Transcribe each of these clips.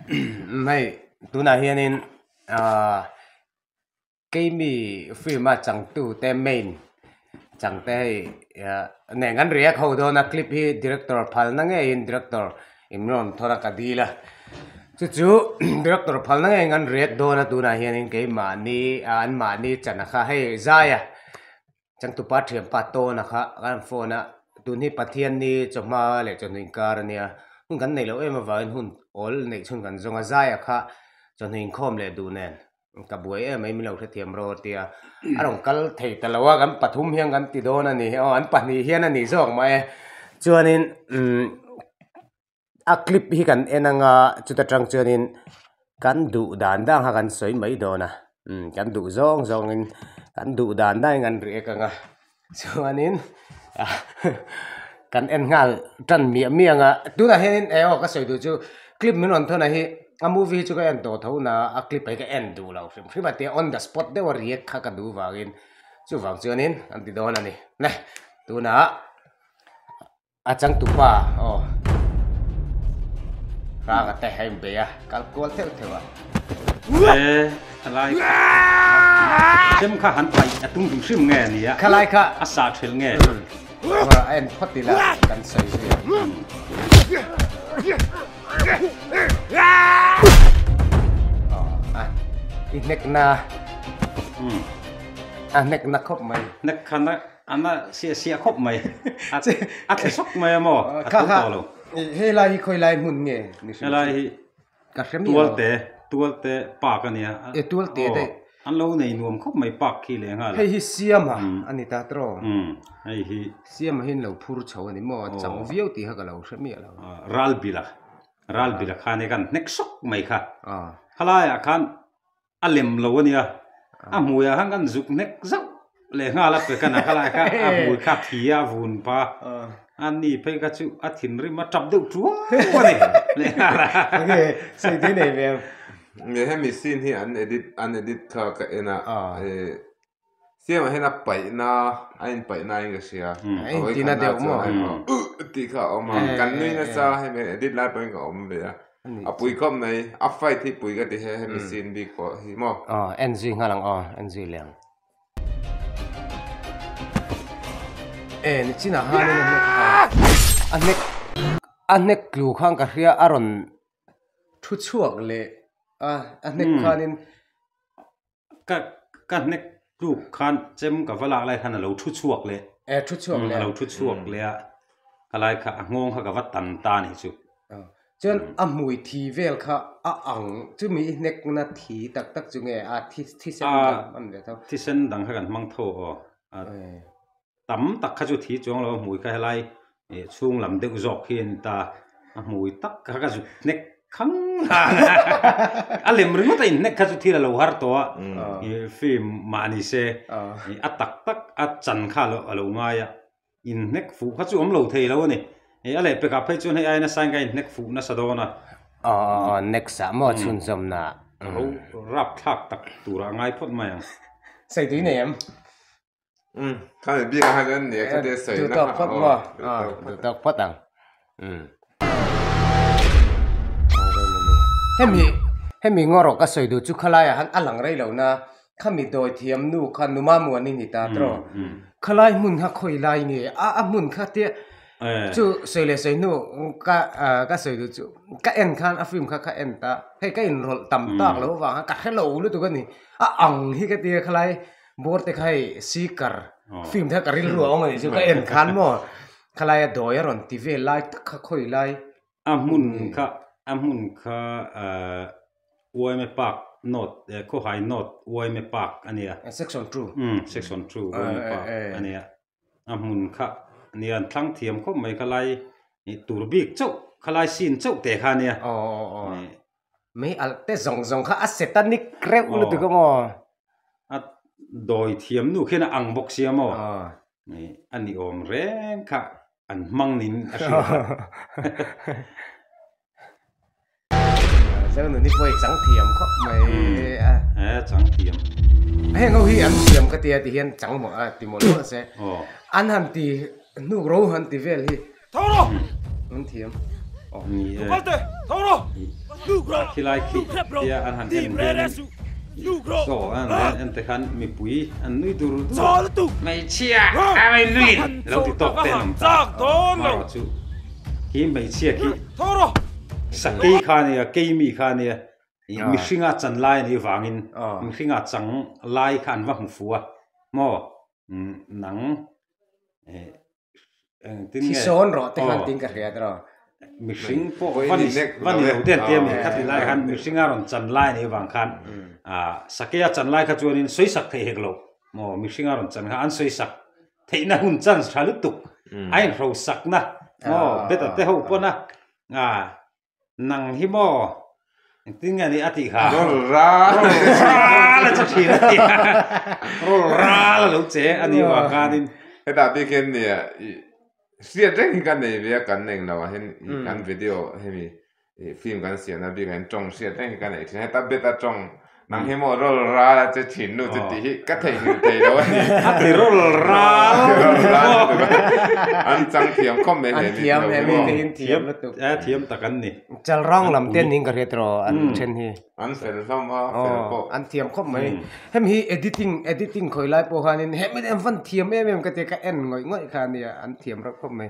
hei tunah hianin aaa keimi film a changtu te main changte hei neng an react ho dawn a clip hi director phalna ngeiin director imran thawna ka dil a chu chu director phalna ngeiin an react dawn a tunah hianin keimahni anmahni chana kha hei zaia-- Changtupa thianpa tawn a kha ka rawn phone a, tun hi Pathian ni chawhma leh chawhnu inkar a nia, hun kan neih loh em avangin hun awl neih chhun kan zawng a, zai a kha chawhnu inkhawm leh duh nen ka buai em mai min lo hrethiam rawh tia a rawn kal thei ta lo a, kan pathum hian kan ti dawn a ni, aw an pahnih hian a ni zawk mah e, chuanin umm. a clip hi kan en ang a chuta tang chuanin kan duh dan dang kha kan sawi mai dawn a kan duh zawng zawng in kan duh dan dang in kan ri ek ang a chuanin kan en nghal tan miah miah ang a tunah hian in eng aw ka sawi duh chu clip min rawn thawn ah hi a movie hi chu ka en tawh tho na a clip hi ka en duh lo hrim hrim a tia on the spot deuh a react kha ka duh vangin chuvang chuanin kan ti dawn a ni hneh tunah. a changtu pa aw rang ate hai be a kal kual theuh theuh a e khalai sem kha han pai a tung dum hrim nge nia khalai kha a sa thil nge ora en photi la kan sai si a i nek na a nek na khop mai nek khana Ana si a siah khawp mai a thla sawk mai a maw a tho tawh lo. Helai hi khawi lai hmun nge? Helai hi Tualte Tualte park a nia. E Tualte a tei. An lo nei nuam khawp mai park khi leh nghal a. Hei hi Siam a a ni ta tro. Umm hei hi. Siam a hi an lo phur chho a ni maw a chang viau tih kha ka lo hre miah lo. Ralbila Ralbila khan hi kan hnek sawk mai kha. Kha laiah khan A lem lo a nia, a hmui ah khan kan zuk hnek zauh, lehnghal a pe ka na kha lai kha a hmui kha a thi a, a vun pa, a ni phei kha chu a thinrim a tap deuh ṭuau a ni lehnghal a. Enge sawi daih nei mai ang. Hemi scene hi an edit an edit kha ka en a, e Siam ah hian a paihna a in paihna a inke hria a in tihna deuh maw a inawm a tih kha a awm a kan nui na cha hei mai edit lai pawhin ka awm ve a a pui khawp mai a fight hi pui ka ti he hemi scene bik pawh hi maw aw en zui nghal ang aw en zui leh ang e ni chinah han in a hnek a hnek tlu khan ka hria a rawn thu chhuak leh a a hnek khan in ka ka hnek tluk khan chem ka va lak lai khan a lo thu chhuak leh e thu chhuak leh a lo thu chhuak leh a ka lai kha a nghawng kha ka va tan ta a nih chu chuan a hmui thi vel kha a ang chumi i hnek na thi tak tak chu nge a thi thi sen dang a ni ve tho thi sen dang kha kan hmang tho aw a tam tak kha chu thi chuang lo a hmui kha helai ih chhung lam deuh zawk hi a ni ta a hmui tak kha ka zut hnek khang la a lem ringawt a in hnek kha chu thil a lo har tawh a ih film mah ni se ih a tak tak a chan kha a lo ngai a in hnek fuh kha chu awm lo thei lo a ni ih a leh pek ah phei chuan hei aina sign kha in hnek fuh nasa dawn a next ah maw chhunzawmna a lo rap thlak tak tur a ngai phawt mai ang. Saitui nei em. hemi ngarawhka sawi duh chu khalaia han a lang rei lo na khami dawi thiam nu kha numa mua ni ni ta tawh khalai hmun kha khawi lai nge a hmun kha tia chu sawi leh sawi hnu ka ka sawi duh chu ka en khan a film kha ka en ta hei ka inrawlh tam tak lo vang kha ka hrelo lutuk a ni a ang hi ka tia khalai. bur te khai sikar fim te kha ka rilru awm ani chu ka en khan maw khalaia dawi a rawn ti vel lai tak kha khawi lai a hmun kha a hmun kha uaime park note khawhai note uaime park ania section two section two uaime park ania. a hmun kha ni an thlang thiam khawp mai kha lai ih tur bik chauh kha lai scene chauh teh kha nia mei alh te zawng zawng kha a setanic reuh lutuk ang aw a dawi thiam nu khian a ang bawk si ang aw ih a ni awm reng kha an hmang niin a hria. Zau nu ni pawh i chang thiam khawp mai a. He chang thiam. Heng ho hi an thiam ka tia ti hian chang mawh a ti mawh lo se. An han ti hnuk ro han ti vel hi. Tho ro! An thiam. Tukal te, tho ro! Hnuk ro! Khilai khi tia an han en hian in. Hnuk ro! Saw a han en en te khan mipui an nui dur dur. Chaw lutuk! Hmeichhia a rawi lui lo ti tawk te an awm ta. Hmarah chu. He hmeichhia khi sakei kha nia keimi kha nia mihringa chan lai anih vangin mihringa chang lai kha an va hmu fu a maw nang eng tin nge sawn rawh te khan tin ka hria tawh mihring pawh va ni va ni lo te an tia mi kha ti lai khan mihringa rawn chan lai anih vang khan a sakeia chan lai kha chuanin sawisak theih hek lo maw mihringa rawn chan kha an sawisak Theihna hun chance tha lutuk a inhrosakna maw beta te ho pawn a nang hi maw engtin nge nih a tih kha. Rawl ral a che thin a nia rawl ral a lo che a ni vang khanin. Heta bik hian nia i hriat reng hi ka nei ve a kan eng lo ah hian i kan video hemi Film kan siam na bik ah hian tawng hriat hleng hi ka nei thin a, heta bet a tawng nang hi maw rawl ral a che thin nu chu tih hi ka theihnghilh thei lo a ni. A ti rawl ral a ni bawk. An chang thiam khawp mai hle bik lo hi maw. Thiam lutuk. A thiam tak an ni. Chal rang lam te niin ka hriat tawh a an then hi. An fel hlawm a, fel pawh. An thiam khawp mai. Hemi hi editing editing khawih lai pawh hian in hemi te an van thiam em em ka ti a, ka en ngawih ngawih kha a ni a, an thiam reuh khawp mai.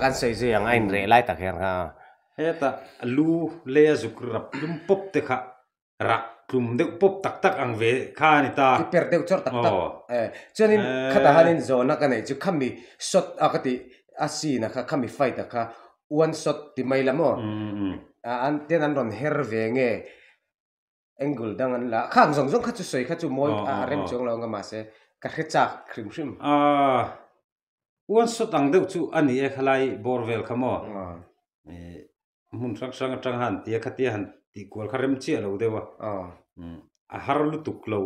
kan sei zui ang a inreh lai tak hian kha heta lu leia zuk rap lum pawp te kha. rak tlum deuh pawp tak tak ang ve kha a ni ta. I per deuh chawr tak tak. Aw. E. Chuanin khata hianin zawhna ka neih chu khami shot a ka tih a scene a kha khami fight a kha one shot ti mai la maw? An tian an rawn her ve nge angle dang an la a, khang zawng zawng kha chu sawi kha chu mawi a rem chuang lo ang a mahse ka hre chak hrim hrim. A one shot ang deuh chu a ni e kha lai bawr vel kha maw? E. Hmun hrang hrang atanga han ti a, khatia han tih kual kha rem chiah lo deuh a, a har lutuk lo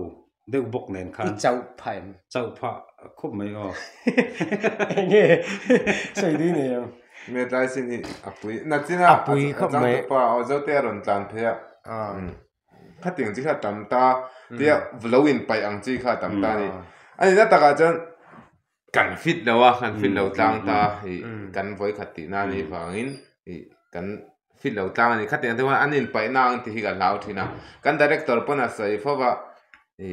deuh bawk nen khan. I chauh phah em? Chauh phah khawp mai aw. Eng nge sawi dui nei ang? Metlai sin hi a pui. Nachin a pui khawp mai. A changtu pa aw zote a rawn tlan phei a. Khatin chi kha a tam ta, tia lo inpaih ang chi kha a tam ta a ni. A nihna takah chuan kan fit lo a kan fit lo tlang ta i kan vawi khat tih na nih vang in i kan fit lo tlang anih kha tiang te pawh an in paih na ang tih hi ka hlau thin a kan director pawn a sawi fo va i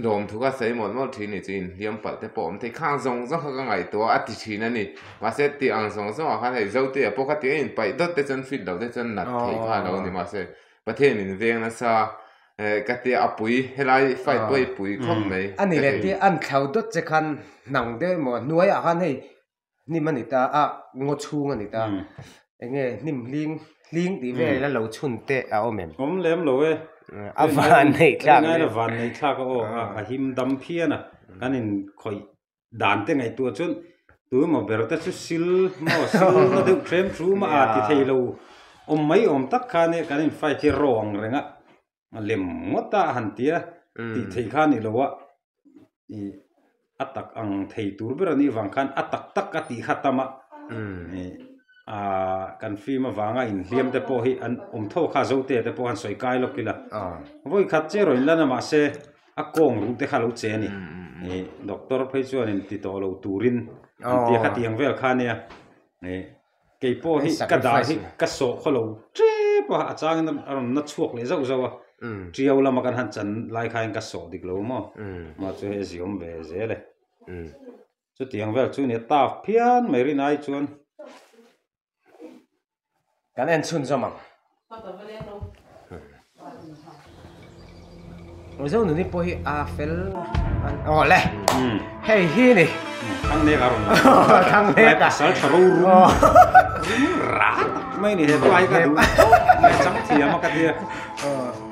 lawm thuk a sawi mawlh mawlh thin nih chu in hliam palh te pawh awm thei khang zawng zawng kha ka ngaih tawh a a ti thin a ni mahse tih ang zawng zawng ah khan hei zote ah pawh khati ah in paih dawt te chuan fit lo te chuan nat theih kha a lo ni mahse pathian in veng nasa. Eh, ka tia a pui, helai fight pawh i pui khawp mai. A ni le tia an thlau dawt che khan hnang deuh emaw a, hnuaiah khan hei hnim a ni ta a, ngaw chhung a ni ta. Eng nge hnim hling, hling tih vel a lo chhun teh a awm em? Awm lem lo e. A van nei thlak em? Eng nge a van nei thlak a aw, a him dam phian a, kan in khawih dan te ngaihtuh ah chuan tui maw ber te chu sil maw sil na deuh ṭhiam thu a mah a ti thei lo awm mai awm tak khan e kan in fight hi raw ang reng a a lem ngawt a a han tia tih theih kha a ni lo a ih a tak ang thei tur ber anih avang khan a tak tak a tih khatam a ih aaa kan fim avang a in hliam te pawh hi an awm tho kha zote te pawh han sawi kai lawk ila vawi khat che rawn in la na mahse. a kawng rung te kha lo che a ni ih doctor phei chuanin ti tawh lo turin an ti a khati ang vel kha nia ih kei pawh hi ka dan hi ka sawh khaw lo tep a a changin a rawn na chhuak leh zauh zauh a ṭio lama kan han chan lai khain ka sawh dik lo maw mah chu hei a ziawm ve zel e chutiang vel chu nia tap phian mai rin ai chuan. kan en chhun zawm ang Mizo nuni pawh hi a fel oh le hmm. hei hi ni thang nek a rum thang nek a sal tharo rum oh. ra mai ni he pai ka du mai chang thiam ka tia oh.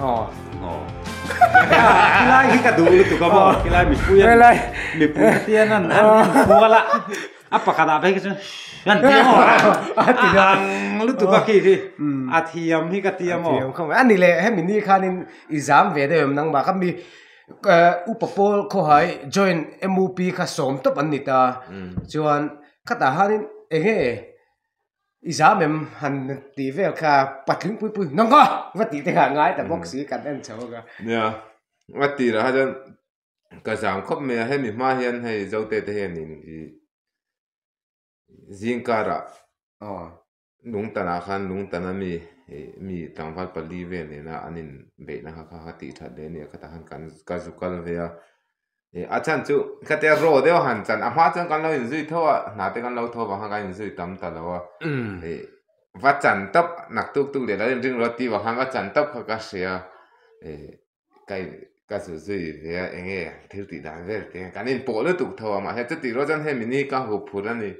Aw. Aw. Helai hi ka duh lutuk a maw? Helai mipui an... Helai. Mipui a tiang an an kual a. A pakhat ah phei ka chuan an ti maw? A ti a. Ang lutuk a khi khi. A thiam hi ka ti a maw? A thiam khawp mai. A ni le hemi ni khanin i zam ve deuh em nangmah kha mi upa pawl khawhai joint MUP kha sawm tawp an ni ta. Chuan khatah hanin eng nge? I zam em han tih vel kha patling pui pui nang ka va tih te kha ngai ta box si kan en chho ka nia a ti la hajan ka zam khop mai a hemi hma hian hei zote te hian in i zingkara aw lungtana khan lungtana mi mi tlangval pali vel nena an in beihna kha kha ti that leh nia khata khan kan ka zu kal ve a a chan chu ka te raw deuh a han chan a hma chuan kan lo in zui tho a hna te kan lo tho vang khan kan in zui tam ta lo a i va chan tawp nak tuk tuk leh lo in ring rawt ti vang khan va chan tawp kha ka hria i ka in ka zu zui ve a eng nge thil tih dan vel te kan in pawh lutuk tho a mahse chu tih rawh chuan hemi ni ka hu phur a ni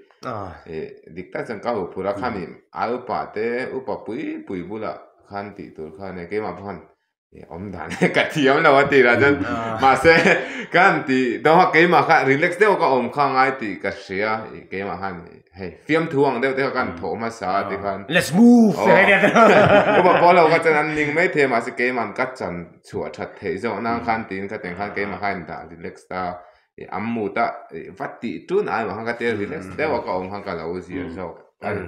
i dik tak chuan ka hu phur a khami ai upa te upa pui pui bulah khan tih tur khan e keimah paw khan awm dan e ka thiam lo a tihlah chuan mahse ka han ti deuh a keimah kha relax deuh ka awm kha a ngai tih ka hria i keimah khan hei fiam thu ang deuh te kha ka han thawh hmasa a tikhan let's move ka va pawh lo kha chuan an ning maithei mahse keimahan ka chan chhuah that theih zawh nan khan tiin ka tiang khan keimah kha a indah relax ta i an mut a va tih tun ai mah khan ka tia relax deuh a ka awm khan ka lo zir zawk a ni.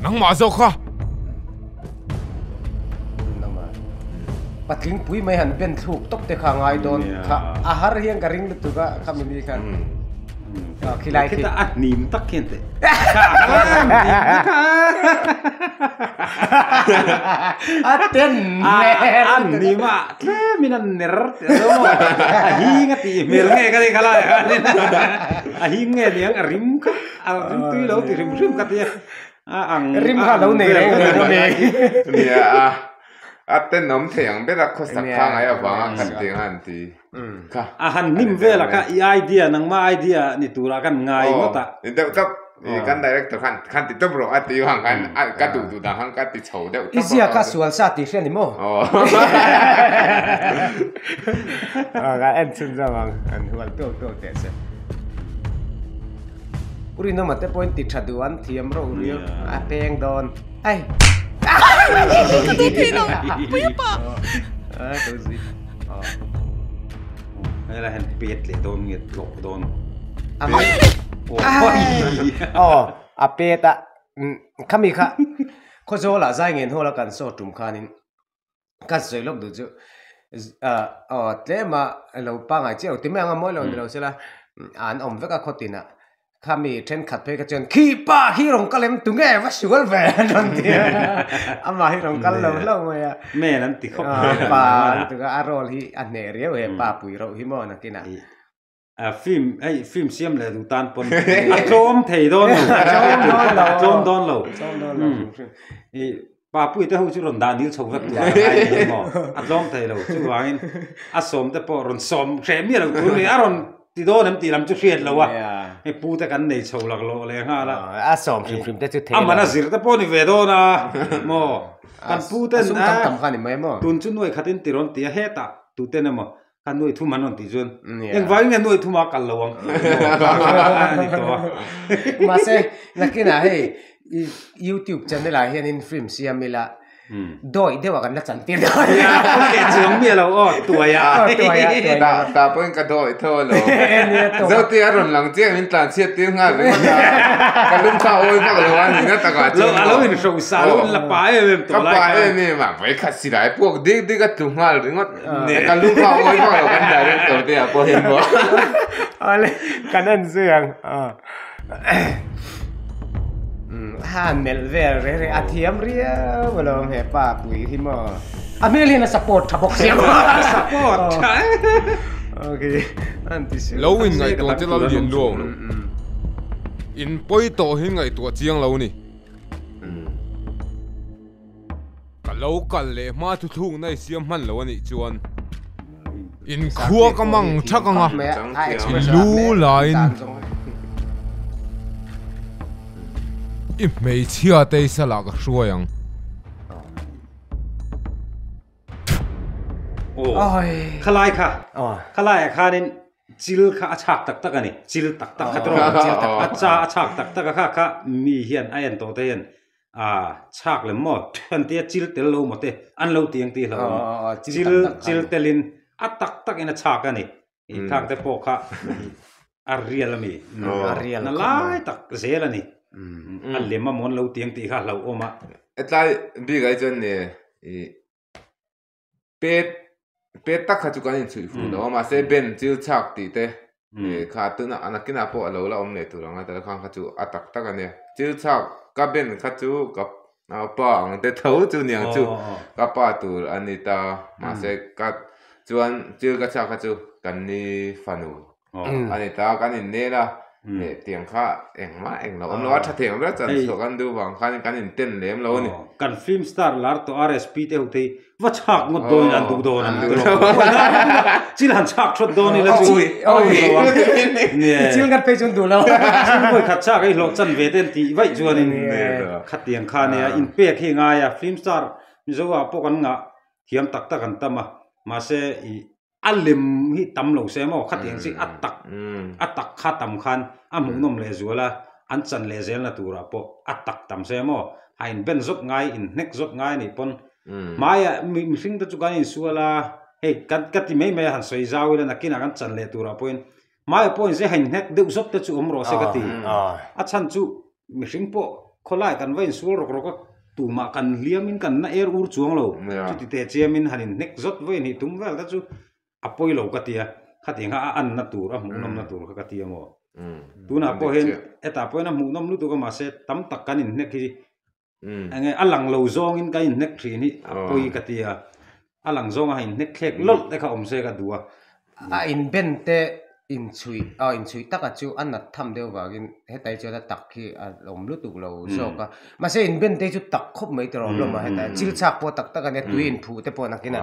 nangmah zawk kha. patling pui mai han ben thluk tawp te kha ngai dawn kha a har hian ka ring lutuk a kha mi ni khan khilai khi ta a hnim tak hian te a ten a hnim a tle min an ner te lo a hing a ti hmel nge ka ti khala a hing nge niang a rim kha a rim tui lo ti hrim hrim ka ti a Rim kha alo nei reng reng a ni. A ten awm thei ang ber a, khawsak kha a ngaih avang a, khan tih ang a an ti. A han hnim vel a kha i idea nangma idea a ni tur a kan ngai ngawt a. I deuh tawp, i kan director khan khan ti tawp rawh a ti vang khan ka duh duh dan khan ka ti chho deuh tawp a. I ziak a sual sa tih hriat ni maw? Ka en chhun zawk ang, an hual tuak tuak teh se. Urina mate pawhin ti tha duh an thiam rauh riau a peng dawn. Ai. Puipa. Ai to zi. Ai la hen pet le dawn nge tlok dawn. Amai. Oh, a peta. Khami kha. Khaw zawl a zai ngen hawla kan saw tum khanin. ka sawi lawk duh chu aw tlem a lo pangai chiah lo ti mai ang a mawi lo ni lo se la an awm vek a khawtin ah khami thenkhat phei kha chuan khi pa khi rawn kal em tunge va sual ve a rawn ti a amah hi rawn kal lo hlauh mai a mail an ti khawp pa lutuk a a role hi a hneh riau e pa pui rauh hi maw nakin ah A film hei film siam leh duh tan pawn a tlawm thei dawn lo a tlawm dawn lo i Papuii te ho chu rawn dah dil chho vek tur a la ngai leh hi maw a tlawm thei lo chuvangin a sawm te pawh rawn sawm hreh miah lo tur a ni a rawn ti dawn em tih lam chu hriat loh a hei pu te kan nei chho lak loh leh nghal a amahna zir te pawh a ni ve dawn a maw kan pu ten a tun chu nuaih khatin ti rawn ti a hetah tuten emaw ka nuai thum han rawn tih chuan engvai nge nuai thum a kal lo ang ani tawh a mahse nakina hei youtube channel ah hian in film siam ila dawih deuh a kan la chan tir lo ania chuang mi alo aw tuai a tuai a tuai a ta pawhin ka dawih tho lo zote a rawn lang chiang in tlan chhiat tir nghal reng a ka lum kha awi vak lo a nihna taka chuan lo alo inhrawh sa lo la pa em em tawh lai khan ka pa em em a vei khat silai puak dik dik a tlu nghal ringawt. Neh. Kan lung fak mawi fak lo kan direct tawh te ah pawh heng maw. Ale kan en zui ang a. Ha melh vel reng reng a thiam riau a lawm he pa Pui hi maw. A hmel hian a support tha bawk sia maw. Support tha e. Ok an ti suih. Lo in ngaihtuah che lal lian lu ang lo. In pawi tawh hi ngaihtuah chiang lo a ni. Ka lo kal leh hma thuthlukna i siam hman lo a nih chuan in khua ka mang chak ang a, i lu laiin i hmeichhia teisa lah ka hruai ang. Khalai kha, Khalai ah khanin chil kha a chhak tak tak a ni, chil tak tak khat rawh, a cha a chhak tak tak a kha kha mi hian a en tawh te hian aa chhak lem maw an tia chil tel lo maw te an lo ti ang tih hlauh a nia chil chil tel in a tak tak in a chhak a ni i khang te pawh kha a real a mi na lai tak zel a ni a lem amaw an lo ti ang tih kha hlauh awm a. Hetlai bik ah hi chuan i pet pet tak kha chu kan in chhuih fur lo a mahse ben chil chak tih te kha tuna a nakinah pawh a lo la awm leh tur ang a tala khang kha chu a tak tak a nia chil chak ka ben kha chu ka pa ang te tho chu niang chu ka pa tur a ni ta mahse ka chuan chil ka chak kha chu kan ni fanu a ni ta kan in nel a leh tiang kha eng mah eng lo awm lo a tha theng riat chan chhuah kan duh vang khan kan in ten lem lo a ni kan film star lar tawh rsp te ho thei va chhak ngawt dawn in an duh dawn ang te pawh a ni a thil han chhak thawt dawn ila chu thil ngat phei chu an duh lo thil ngawi khat chak hi hlawh chan ve te an tih vaih chuan in khatiang kha nia in pek hi ngai a film star mizoah pawh kan ngah thiam tak tak an tam a mahse ih a lem hi tam lo se maw khati ang chiah a tak a tak kha tam khan a hmuhnawm leh zual a an chan leh zel na turah pawh a tak tam se maw a in ben zawt ngai in hnek zawt ngai anih pawn hmai ah mi mihring te chu kan in sual a hei ka ti mai mai a han sawi zau ila nakin ah kan chan leh turah pawhin Mahia pawhin zia hain nghet deuh zawt te chu awm rawh se ka ti. A chhan chu mihring pawh khawlai kan va insual rawk rawk a, tumah kan hliamin kan na er ur chuang lo. Chuti te chiamin han inhnek zawt vawi a nih. Tum vel te chu a pawi lo ka tia, khatingah a anna tur, a hmuhnawmna tur kha ka ti ang aw. Tunah pawhin heta pawhin a hmuhnawm lutuk a mahse tam tak kan inhnek hi Enge a lang lo zawngin ka inhnek thin hi a pawi ka ti a, a lang zawng a inhnek thlek lawlh te kha awm se ka duh a. A inben te inchhuih a inchhuih taka chu a nat tham deuh vangin hetai chuan a tak hi a awm lutuk lo zawk a, mahse inben te chu tak khawp mai ta rawh hlawm a, heta chil chak pawh tak tak a nia tui inphuh te pawh nakin a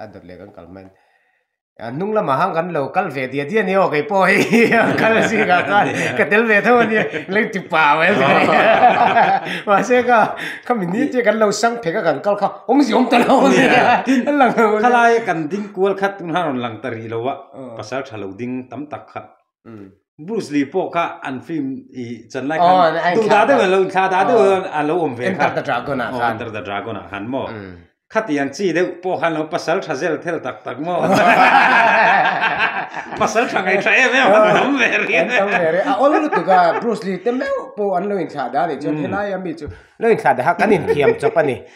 a dawt leh kan kal hman a hnung lamah hang kan lo kal ve dia dia ni aw kei pawh hei kal a zing ah chuan ka tel ve tho ania leng ti pah mai a zing a mahse kha khami ni chu kan lo sang phek a kan kal kha awmzia awm ta lo a zing a a lang lo a khalai a kan ding kual khat tunah a rawn lang ta rih lo a pasal tha lo ding tam tak kha. Bruce Lee pawh kha an film i chan lai khan duhdah deuh an lo inthla dah deuh hian a lo awm ve kha. Enter the Dragon ah khan. Enter the Dragon ah khan maw. Khati an chi deuh pawh khan lo pasal tha zel thel tak tak maw. Pasal tha ngaithla em em an tam ve ri. An tam ve ri. A awl lutuk a Bruce Lee te meuh pawh an lo inthla dah a nih chuan helai ami chu lo inthla daha kan inthiam chawp a ni.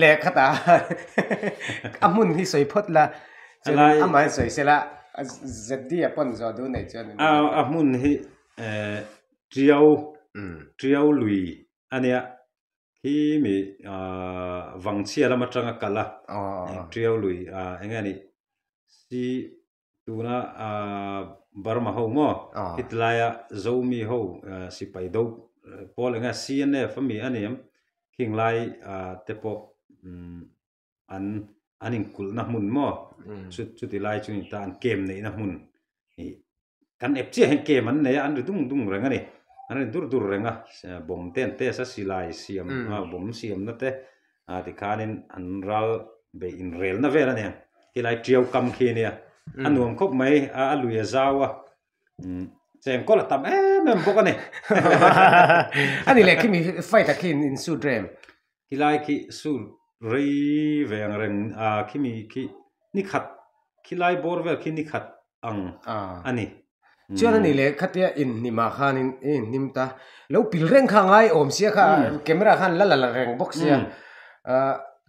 leh khat ah a hmun hi sawi phawt la chuan a lai amah hi sawi se la a zd a pawn zawh duh neih chuan a a hmun hi eh tiau tiau lui a nia khi mi ah vang chhia lam atanga kal a tiau lui ah eng nge a nih si. Tuna Burma ho maw? Hitlaia Zomi ho sipai do pawl eng nge CNF a mi a ni em? Khinglai te pawh an an inkulhna hmun maw? Chuti lai chu ni ta an kem neihna hmun ni. Kan ep chiah hian kem an nei a, an ri dung dung reng a ni. An ri dur dur reng a, bomb te an test a, silai siam bomb siamna te a tikhanin an ral beih inrelna vel a nia helai ṭiau kam khi a nia a nuam khawp mai a a lui a zau a umm chengkawl a tam em em bawk a ni a ni leh khimi fight a khi in suit rem helai khi suit rei veng reng a khimi khi nikhat khilai bawr vel khi nikhat ang a ni. Chuan anih leh khatia inhnim ah khan in i inhnim ta. Lo pil reng kha ngai awm sia kha camera khan la la la reng bawk sia.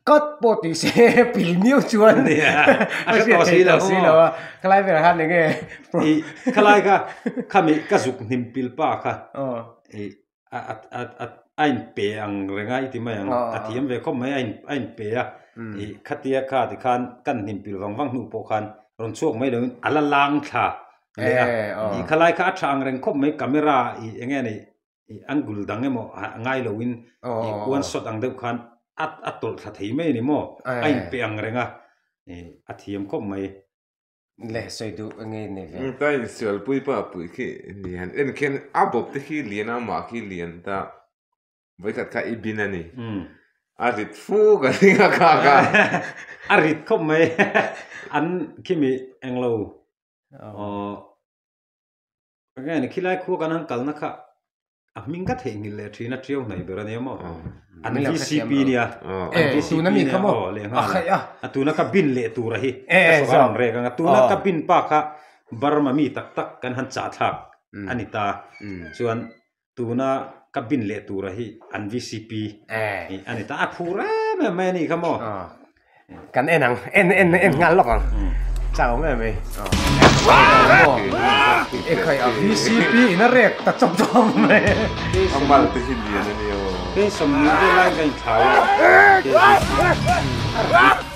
Cut pawh tih se pil miau chuan a hre tawh si lo a. Khalai ber ah khan enge. Khalai kha khami ka zuk hnim pil pa kha. a in pe ang reng a i ti mai ang a thiam ve khawp mai a a in pe a ih khatia kha ti khan ka an hnim pilh vang vang hnu pawh khan rawn chhuak mai lo in a la lang thla leh a ih kha lai kha a tha ang reng khawp mai camera ih eng nge nei ih angle dang emaw ngai lo in ih kual shot ang deuh khan a a tawlh thla thei mai a ni maw a in pe ang reng a ih a thiam khawp mai. Leh sawi duh enge i nei ve. Eng ta in sial pui pa pui khi ni han en khian a bawp te khi lian a mah khi lian ta voi khat kha i bin a ni a rit fu ka ring a kha kha a rit khawp mai an khi mi englo Engaiin khilai khuaa kan han kalna kha a hming ka theihnghilh leh thin a ṭiau hnaih ber a nia maw? An vcp nia, an vcp nia aw leh nghal a, a tuna ka bin leh tura hi ka saw ka rawn rêk ang a, tuna ka bin pa kha Burma mi tak tak kan han chahthlak a ni ta, chuan tuna ka bin leh tura hi an vcp tih a ni ta a phuh rem em mai a nih kha maw kan en ang en en en nghal lawk ang chang awm em mai e khai a vcp in a rek ta chawp chawp mai a mal te hi lian a ni o ke sawmnui te lai ka inthlau a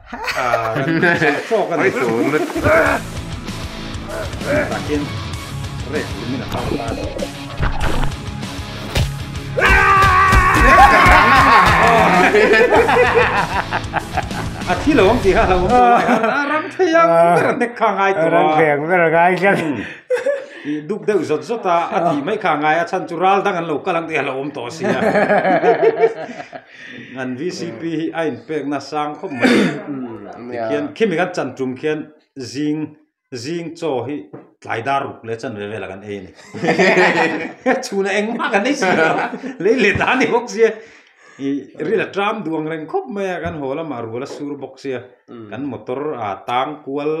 a thi lo ang tih kha a lo awm tawh lai a a ram thei ang ber a nek kha a ngai tawh a a ram thei ang ber a ngai tlat i duk deuh zawt zawt a a tih mai kha a ngai a a chhan chu ral dang an lo kal ang tih a lo awm tawh a sia. An VCP hi a inpekna sang khawp mai tikhian khi mi kan chan tum khian zing zing chaw hi tlai dar ruk leh chan ve vel a kan ei a ni. Chhun a eng mah kan nei si lo, lei leh ta ni bawk sia. I ril a ṭam duang reng khawp mai a, kan haw lamah rual a sur bawk sia. Kan motor a tang kual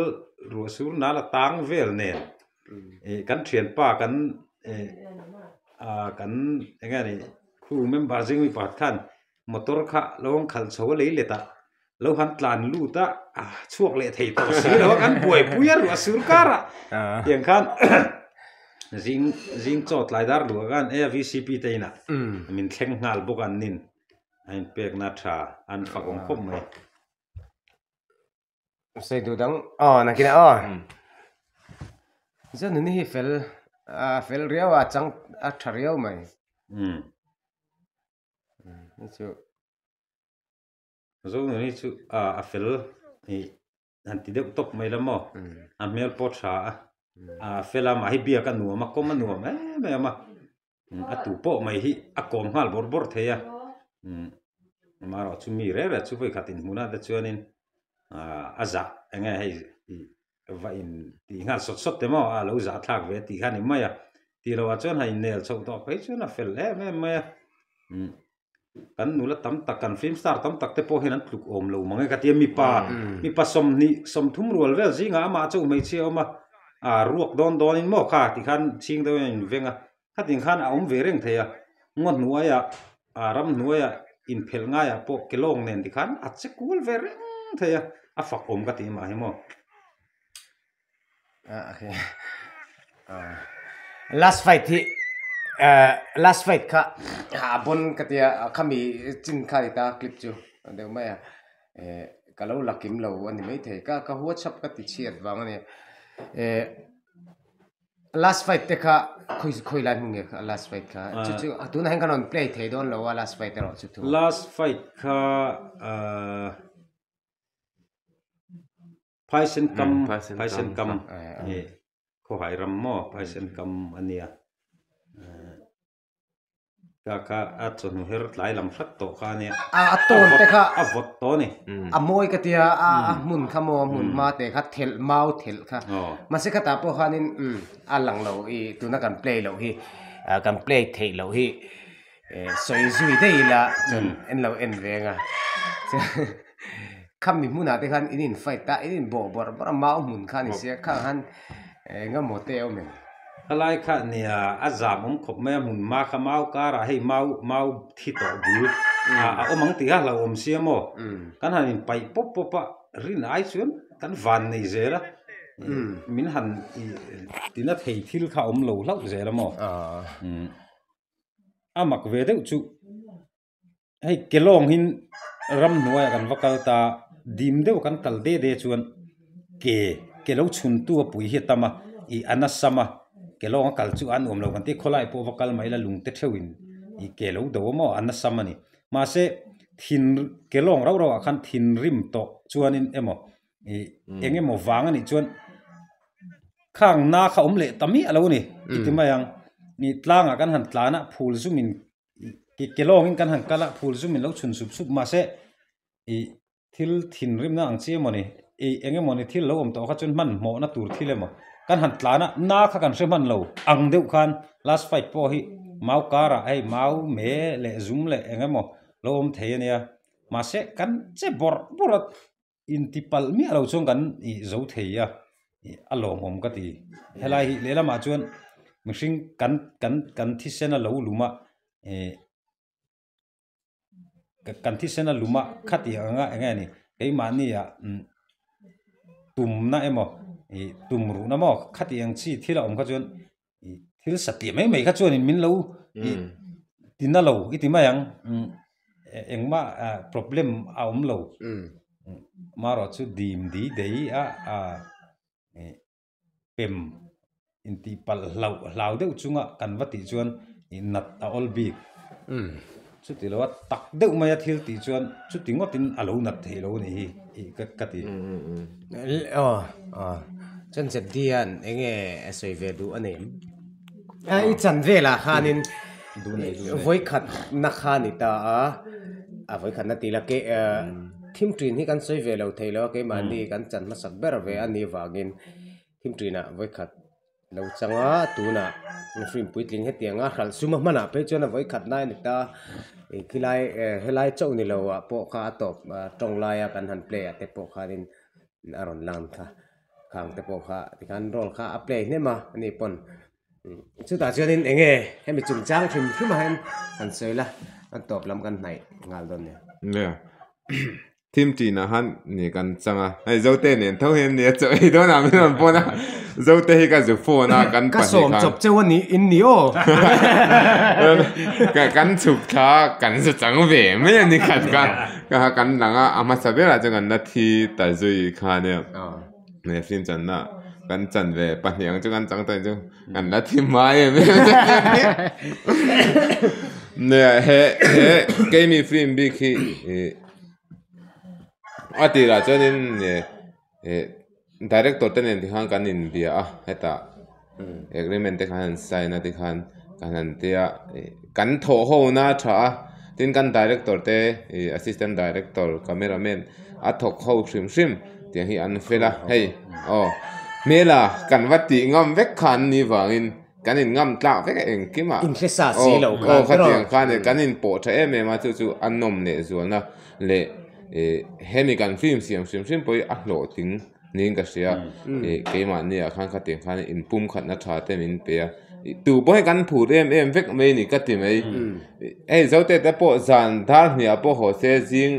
ruah sur nal a tang vel nen. eh kan thianpa kan eh ah kan eng nge ni khu member zing mi pakhat khan motor kha lo awm khal chho a lei let a lo han tlan lut a ah chhuak leh thei tawh si lo a kan buaipui a ruah sur kar a tiang khan zing zing chawt lai dar luh ah khan eh a vcp te inah min thleng nghal bawk a an in a inpek na tha an fak awm khawp mai. Sei du dang aw na kina aw zan ni hi fel a fel riau a chang a tha riau mai um ni chu zo nu ni chu a a fel ni an ti deuh tawp mai lama a hmel pawh tha a a fel a mah hi biak a nuam a kawm a nuam em em a a tu pawh mai hi a kawm nghal bawr bawr thei a mah rawh chu mi reng reng chu vawi khat inhmuhna te chuanin ah a zah enge hei va in tih nghal sawt sawt te maw a lo zah thlak ve tih kha a ni mai a tihloah chuan hei inel chhoh tawh phei chuan a fel em em mai a. kan nula tam tak kan film star tam tak te pawh hian an tluk awm lo mang e ka ti a mipa mipa sawmhnih sawmthum rual vel zingah amah a chauh hmeichhia a awm a aa ruak dawn dawn in maw kha ti khan chhing deuh in a inveng a khatin khan a awm ve reng thei a ngaw hnuai ah aa ram hnuai ah inphelh ngai ah pawh ke lawng nen ti khan a che kual ve reng thei a a fak awm ka ti mah hi maw. Last fight hi last fight kha a bon ka tia khami chin kha ni ta clip chu deuh mai a ka lo la kim lo a ni mai thei ka ka huat chhap ka ti chhiat vang a ni last fight te kha khawi khawi lai hming nge last fight kha chu chu tun ah hian ka rawn play thei dawn lo a last fight erawh chu thu last fight kha Phaisenkam Phaisenkam nge khawhai ram maw Phaisenkam a nia ka kha a chawhnu her tlai lam hrat tawh kha ania a a tawn te kha a vawt tawh a ni a mawi ka tia a a hmun kha maw a hmun hma te kha thelh mau thelh kha mahse khatah pawh khanin a lang lo i tuna kan play loh hi kan play theih loh hi. eh sawi zui daih ila chuan in lo en veng a kha mi hmunah te khan in in fight ta in in bawh bawrh bawrh a mau hmun kha ni sia kha khan engemaw te awm em khalai kha nia a zam awm khawp mai a hmun hma kha mau karah hei mau mau thi tawh bul a awm ang tih a hlo awm sia maw kan han in paih pawp pawp a rin ai chuan kan van nei zel a min han ih tina thei thil kha awm lo hlauh zel a maw. a mak ve deuh chu hei ke lawngin ramhnuai ah kan va kal ta a dim deuh kan kal de de chuan ke ke lo chhuntu a pui hi a tam a ih a na sam a ke lawng a kal chu a nuam lo kan ti a khawlai pawh va kal mai ila lungte theuhin ih ke lo do a maw a na sam a ni mahse thin ke lawng rauh rauh ah khan thinrim tawh chuanin emaw-- ih eng emaw vang anih chuan khang na kha awm leh ta miah alo ani i ti mai ang i tlangah kan han tlan a phul zum in ke ke lawng in kan han kal a phul zum in lo chhun sup sup mahse ih thil thin rim na ang chi emaw ni i eng emaw ni thil lo awm tawh kha chuan hman hmawh na tur thil emaw kan han tlan a na kha kan hre hman lo ang deuh khan last fight pawh hi mau kar ah hei mau me leh zum leh eng emaw lo awm thei ania mahse kan che bawrh bawrh a. intipalh miah lo chuan kan ih zo thei a ih a lawmawm ka ti helai hi lehlamah chuan mihring kan kan kan thisena lo luma eh kan thisena luma khati ang a eng nge ni keimahnia umm tumna emaw ih tumruhna maw khati ang chi thil a awm kha chuan-- ih thil satliah mai mai kha chuanin min lo ih tina lo i ti mai ang engmah problem a awm lo amarawh chu dim di dei a a ih pem intihpalh hlau hlau deuh chunga kan va tih chuan ih nat a awlbik. Chuti loa tak deuh maia thil tih chuan chuti ngawtin a lo nat theih lo a ni hi ka ti. Aw, aw. Chuan Jebdi hian eng nge a sawi ve duh a ni? I chan velah khanin vawi khatna kha a ni ta a, a vawi khatna tih ila thimṭin hi kan sawi ve lo thei lo a, keimahni kan chan hmasak ber ve a nih vangin thimṭinah vawi khat. lo changa tunah mihring puitling hetianga hralh suma hmanah phei chuan a vawi khat lai a ni ta ih khilai eh helai chauh ni loah pawh kha a tawp a tawng laia kan han play ah te pawh khanin a rawn lang thla khang te pawh kha tikhan role kha a play hlem a a ni pawn chutah chuanin eng nge hemi chungchang hrim hrim ah hian han sawi la an tawp lam kan hnaih nghal dawn nia. Thim ṭin ah han ni kan chang a, hei zote nen tho hian nia chaw ei dawn ah min rawn pawn a, zote hi ka zu phone a kan pahnih khan. Ka sawm chawp cheu a ni in ni aw. Kan chhuk thla kan za chang ve mai a ni khat kha, kha kan lang a, a hmasa ber ah chuan kan la thi ta zui kha nia, hei film chan na kan chan ve pahnih ang chu kan chang ta chu kan la thi hmai em em a ni nia he he keini film bik hi. a tirah chuan in eh eh director te nen te khan kan inbia a hetah agreement te khan an sign a te khan kan han tia a eh kan thawh ho na a tha a tin kan director te ih assistant director camera man a thawk ho hrim hrim tiang hi an fel a hei aw hmela kan va tih ngam vek khan ni vangin-- Kan in ngam tlak vek engkim a. In hlesa si lo khan. Aw khatiang khan e kan in pawh tha em em a chu chu a nawm leh zualna leh hemi kan film siam hrim hrim pawh hi a hlawhtling niin ka hria. Keimahni ah khan khatiang khan in pumkhatna tha te min pe a. Tu pawh hi kan phut em em vek mai ni ka ti mai. Hei Zote te pawh zan dar hniah pawh haw se zing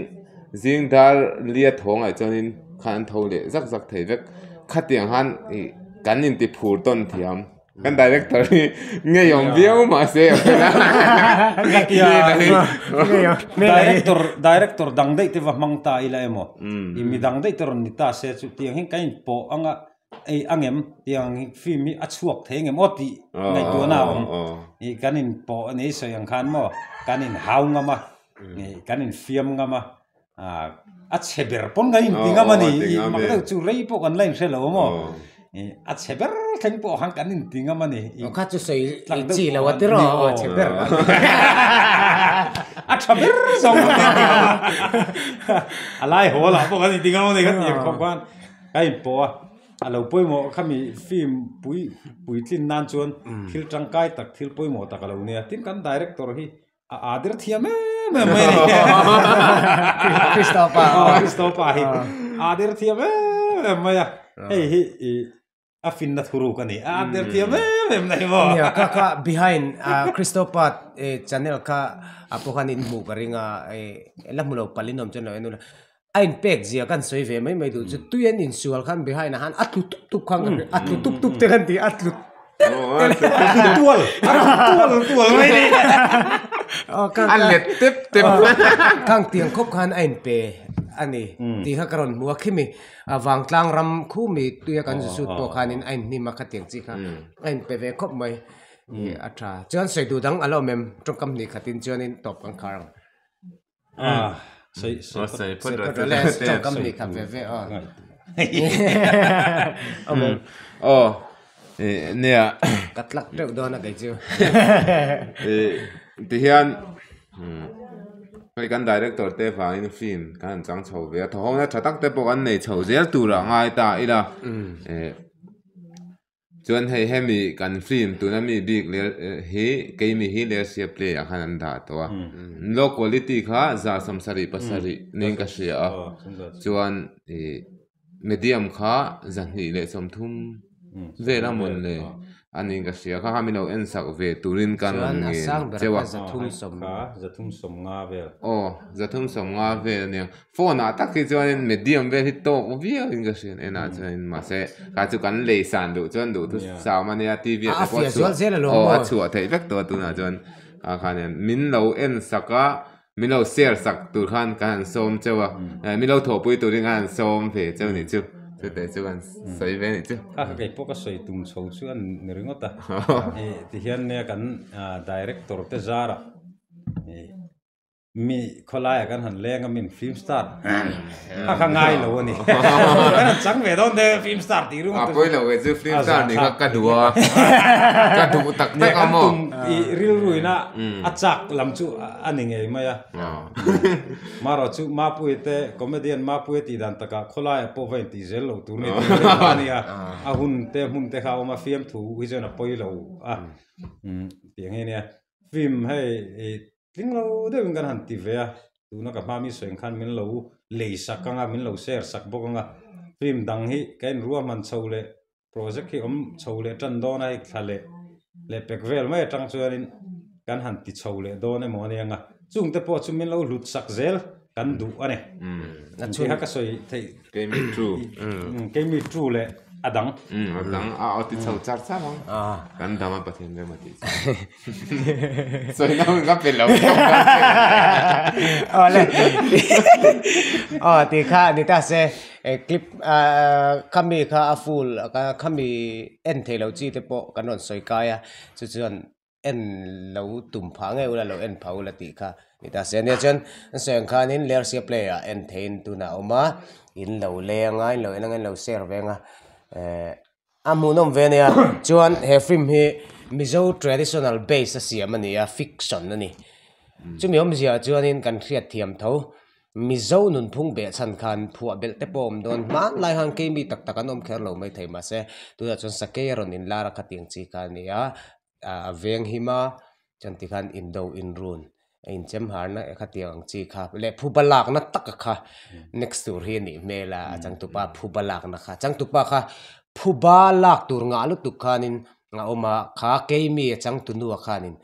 Zingdar lia thawngah chuanin khan an tho leh zak zak thei vek. Khatiang han ih kan inti phur tawn thiam. Kan director hi ngei awm viau mah se a fel a. Director, director dang daih te va hmang ta ila emaw? I mi dang daih te rawn ni ta se chu tiang hian kan inpoh ang a. ei a ngem tiang film hi a chhuak thei ngemaw maw tih ngaihtuahna a awm ih kan in pawh a ni sawi ang khan maw kan in hau ngam a ih kan in fiam ngam a ah a chhe ber pawn kan inti ngam a ni ih mak deuh chu rei pawh kan la inhre lo maw ih a chhe ber thleng pawh khan kan inti ngam a ni ih awkha chu sawi tlak deuh pawh a ni maw a chhe ber a ni a tha ber zawng a ni a a lai haw lah pawh kan inti ngam a ni kha ti ang khawp khan. Ka in pawh a, a lo pawimawh kha mi film pui puitlin nan chuan thil tangkai tak thil pawimawh tak a lo nei a, tin kan director hi a aa dir thiam em em mai a ni. Christopher hi aa dir thiam em em mai a, hei hi i a finna thu ruk a ni. A under tiam em em mai maw? Nia, ka ka behind a Christopad e channel kha a pawh khan in hmuh ka ring a, e la hmu lo pal in awm chuan lo en ula. A in pek zia kan sawi ve mai mai duh chu tuian in sual khan behind a han a tlu tup tup khan ka hre, a tlu tup tup te khan ti a tlu tual tual tual mai ni. A let tep tep. Khang tiang khawp khan a in pe a ni tih kha ka rawn hmu a khi mi. A vangtlang ram khu mi tuia kan zut zut pawh khanin a inhnim a khatiang chi kha a inpe ve khawp mai a tha. Chuan sawi duh dang a lawm em? Tawngkam hnih khatin chuanin tawp kan khar ang. Sawi phawt rawh le tawngkam hnih khat ve ve aw. Nia. Ka tlak teuh dawn a kei chu. Tihian hei kan director te vangin film kan han chang chho ve a, thawhawkna tha tak te pawh kan nei chho zel tura a ngai ta ila. Chuan hei hemi kan film tuna mi bik ler hi keimi hi lersia play ah khan an dah tawh a. Low quality kha zarhsam sarih pasarih niin ka hria a. Chuan. medium kha zahnih leh chawmthum vel a mawn le a nih ka hria kha mi lo en sak ve turin ka rawn ngen che a. Chuan a sang ber kha zathum sawm kha zathum sawm nga vel. Aw zathum sawm nga vel a nia phone ah tak hi chuanin medium vel hi tawk viau in ka hrian en ah chuan mahse kha chu kan lei san duh chuan duh thu sam a nia TV ah te pawh a chhuah aw a chhuah theih vek tawh a tunah chuan kha khan hian min lo en sak a. Min lo share sak tur khan kan han sawm cheu a, eh min lo thawhpui turin khan han sawm ve cheu ni chu, chutah chu kan sawi ve ni chu. Kha ka kei pawh ka sawi tum chho chu a ni ringawt a, ih tihian nia kan director te zara ih mi khawlaia kan han leng a min film star. A kha ngai lo a ni. Kan han chang ve dawn te film star tih rung a tum. A pawilo ve chu film star ni kha ka duh a, ka duh tak tak a maw. Kan tum i rilruina a chak lam chu a ni ngei mai a. Marawh chu Mapui te comedian Mapui a tih dan takah khawlaia pawh va intih zel lo tur nge tih reng a nia. A hun te hmun te kha a awm a fiamthu hi chuan a pawilo a. Tiang nge nia. film hei ih tling lo deuh in kan han ti ve a tuna ka hmaa mi sawi ang khan min lo lei sak anga min lo share sak bawk anga film dang hi ka inruah hman chho leh project hi awm chho leh tan dawn a hei thla leh leh pek vel mai atang chuan in kan han ti chho leh dawn emaw ni ang a chungte pawh chu min lo hlut sak zel. Kan duh a ni. Intiha ka sawi theih. Keimi two. Keimi two leh a dang. A dang a aw ti chho char char ang. Kan dang a Pathian rem a tih chu. Sawi na hun ka pe lo. Aw le. Aw ti kha ni ta se clip khami kha a full khami en theih lo chi te pawh kan rawn sawi kai a chu chuan. en lo tum phah ngei ula lo en phah ula tih kha ni ta se nia chuan an sawi ang khanin lersia play ah en thei in tuna awm a in lo leng a in lo en anga in lo share veng a ehh a hmuhnawm ve a nia chuan he film hi mizo traditional base a siam a ni a fiction a ni chumi awmzia chuan in kan hriat thiam tho. Mizo nunphung beh chhan khan phuah belh te pawh awm dawn, hmanlai han kei mi tak tak an awm kher lo mai thei mah se, tunah chuan sakei a rawn in lar a kha tih ang chi kha a ni a, a veng him a, chuan ti khan in do in run a in chem har na kha tih ang chi kha leh phu ba lak na tak a kha next tur hi a nih hmel a, a changtu pa phu ba lak na kha, changtu pa kha phu ba lak tur ngah lutuk khan in a awm a, kha kei mi a changtu nu a khan in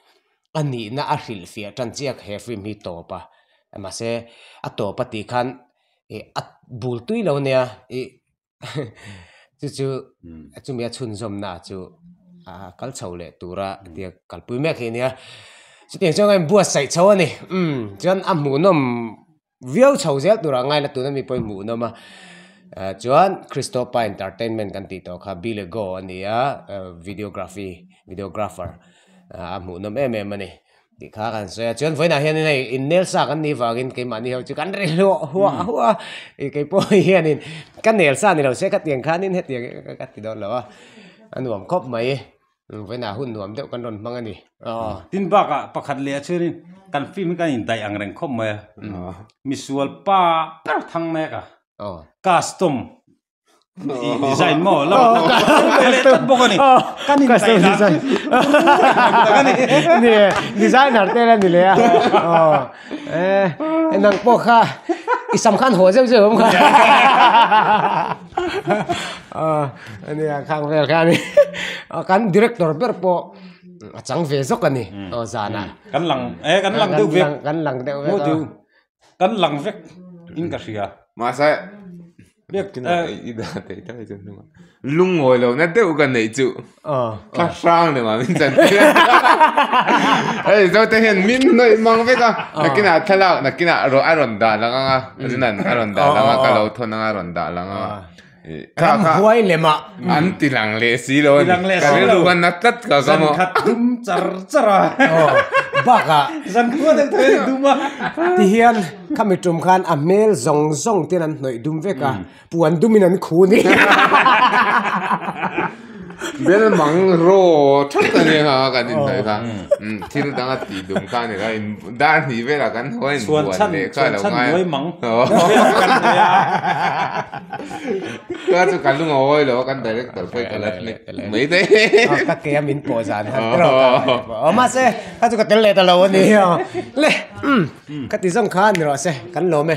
a nihna a hrilhfiah tan chiah kha he film hi a tawp a mahse a tawp a tih khan ih a bul tui lo nia ih chu chu a chumi a chhunzawmna chu a kal chho leh tura tia kalpui mek hi a nia chutiang chuan a inbuatsaih chho a ni chuan a hmuhnawm-- viau chho zel tur ah ngaila tuna mi pawhin hmuh an awm a chuan christoppa entertainment kan tih tawh kha billy go a ni a videography videographer a hmuh nawm em em a ni tih kha kan sawi a chuan vawi nah hian hei in nel sa kan nih vangin keimahni ho chu kan rilh huah huah huah a ih keipawh hian in ka nel sa ni lo se khatiang khanin hetiang ka ti dawn lo a a nuam khawp mai. Ruvena hun nuam deuh kan rawn hmang a ni. Tin bakah pakhat leh a chhuirin kan film hi kan indaih ang reng khawp mai a. Misual pa ber thang mek a, custom design maw lam atang kan hmang ve leh tlat bawk a ni. Kan indaih dan chu Designer te la ni leh a. Nang pawh kha i sam khan haw zeuh zeuh awm kha. ania khang vel hian kan director ber pawh a chang ve zawk a ni aw zana kan lang e kan lang deuh vek kan lang deuh vek a kan lang vek in ka hria mahse biak tinah i dan theih ta hi chu hnungah lungawi lohna deuh ka neih chu. Ka hrang le mah min chan tir a ni zo te hian min nawih mang vek a nakin ah thlalak nakin ah a rawn dah lang anga Rinan a rawn dah lang a ka lo thawn anga a rawn dah lang anga ram huai le mah an ti lang leh si lo a ni ka rilru khan a tlat ka ka mu zankhat dum char char a aw bakah zan khua deuh thei a ni dum a ti hian khami tum khan a hmel zawng zawng ten an hnawih dum vek a. Puan dumin an khu ni. Belmang raw that a ni ha kan insawi kha thil danga ti dum kha a ni kha in dar hnih velah kan hawai in buan leh kha alo ngai a ka chu ka lung a hawi lo a kan director pawh ka la hnek mai daih ka ke a min pawh zan han trawk a mahse kha chu ka tel leh ta lo a ni le ka ti zawng kha a ni rua se kan lawm e.